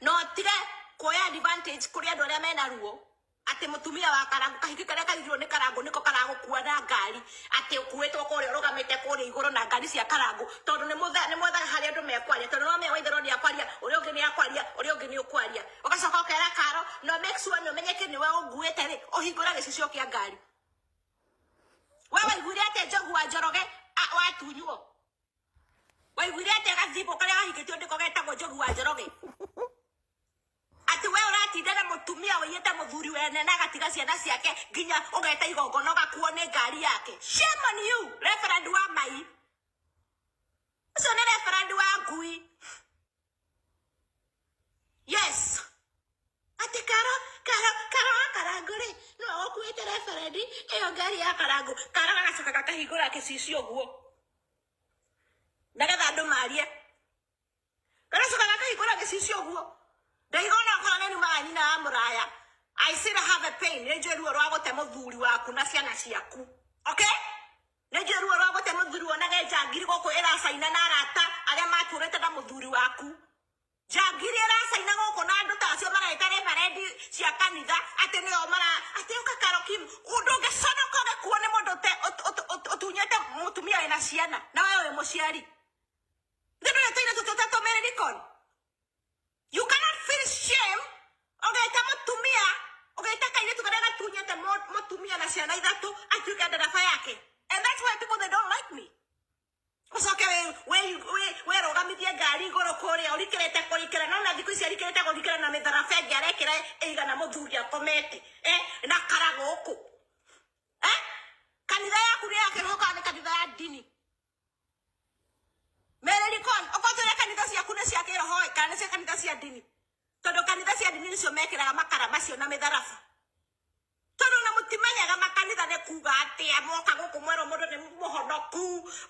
na ũtige kuoya advantage kũrĩ andũ arĩa mena ruo atĩ mũtumia wa karangu kahiki karĩa kaigirwo nĩ karangu nĩko karagũkua na ngari atĩ ũkuĩtwo kũrĩa ũrũgamĩte kũrĩa igũrũ na ngari cia karangu tondũ nĩ mũtha- nĩ mwethaga harĩa andũ mekwaria tondũ no mea waitherwo nĩ akwaria ũrĩa ũngĩ nĩ akwaria ũrĩa ũngĩ nĩ ũkwaria ũgacoka ũkera karo no make sure nĩ ũmenyeke nĩ we ũnguĩte rĩ ũhingũra gĩcicio kĩa ngari we waiguire atĩ njogu wa njoroge a- watunywo waiguire atĩa gathimbo karĩa gahingĩtio ndĩko getagwo njogu wa njoroge atĩ we ũratinda na mũtumia ũiyĩte mũthuri wene na agatiga ciana ciake nginya ũgeta igongona ũgakuo nĩ ngari yake shame on you reverend wa mai ũcio nĩ reverend wa ngui yes atĩ kara kara kara wa karango rĩ nĩwe ũkuĩte reberendi ĩyo ngari ya karango kara gagacoka gakahingũra gĩcicio ũguo nĩgetha andũ marie gagacoka gakahingũra gĩcicio ũguo ndaiga ona okorwo nĩ nyuma ya nyina ya mũraya I still have a pain nĩ njũĩ ruo rwa gũte mũthuri waku na ciana ciaku okay Nĩnjũĩ ruo rwa gũte mũthuri wonage njangiri gũkũ ĩracaina na arata arĩa matũrĩte na mũthuri waku. Njangiri ĩracaina gũkũ na andũ tacio mareta reverendi cia kanitha atĩ nĩo mara atĩ ũka karokim ũndũ ũngĩconoka ũgĩkuo nĩ mũndũ ũte- ũt- ũt- ũt- ũtunyĩte mũtumia wĩna ciana na we wĩ mũciari. Githĩ ndũrĩ tũirĩtu tũtatũmĩrĩri koni? You cannot feel shame ũgĩta mũtumia ũgĩta kairĩtu karĩa gatunyĩte mũ- mũtumia na ciana ithatũ atuĩke ndereba yake and that's why people they don't like me ũcoke wĩ- wĩ- wĩ- wĩrũgamithie ngari igũrũ kũrĩa ũrikĩrĩte kũrikĩra no na thikũ ici arikĩrĩte kũrikĩra na mĩtharaba ĩngĩ arekĩra ĩigana mũthuri akomete eh, na kara gũkũ eh? kanitha yaku nĩ yake gũka nĩ kanitha ya ndini Mereri Con, okorwo tuge kanitha ciaku nĩ cia kĩroho ĩ, kana nĩ cia kanitha cia ndini? Tondũ kanitha cia ndini nĩcio mekĩraga makara macio na mĩtharaba. Tondũ ona mũtimenyaga makanitha nĩ kuga atĩa, mwoka gũkũ mwerwo mũndũ nĩ mũhonoku,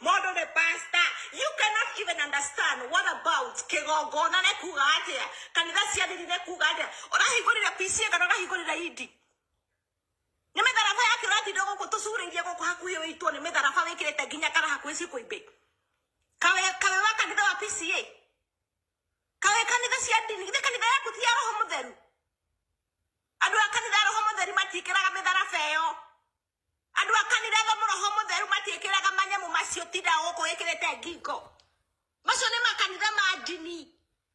mũndũ nĩ pastor. You cannot even understand what about kĩgongona nĩ kuga atĩa, kanitha cia ndini nĩ kuga atĩa. Ũrahingũrire PCA kana ũrahingũrire ED? nĩ mĩtharaba yake ũratinda gũkũ tũcurĩirie gũkũ hakuhĩ wĩitwo nĩ mĩtharaba wĩkĩrĩte nginya kara hakuhĩ ciĩkwo imbĩ kawe kawe wa kanitha wa pca kawe kanitha cia ndini githĩ kanitha yaku ti ya roho mũtheru andũ a kanitha roho mũtheru matiĩkĩraga mĩtharaba ĩyo andũ a kanitha roho mũtheru matiĩkĩraga manyamũ macio tinda gũkũ wĩkĩrĩte ngingo Macio nĩ makanitha ma ndini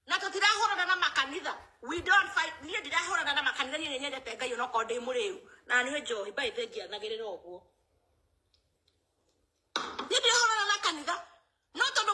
na tũtirahũrana na makanitha we don't fight niĩ ndirahũrana na makanitha niĩ nĩnyendete ngai onokorwo ndĩ mũrĩu na nĩ njohi by the njianagĩrĩra ũguo niĩ ndirahũrana na kanitha no tondũ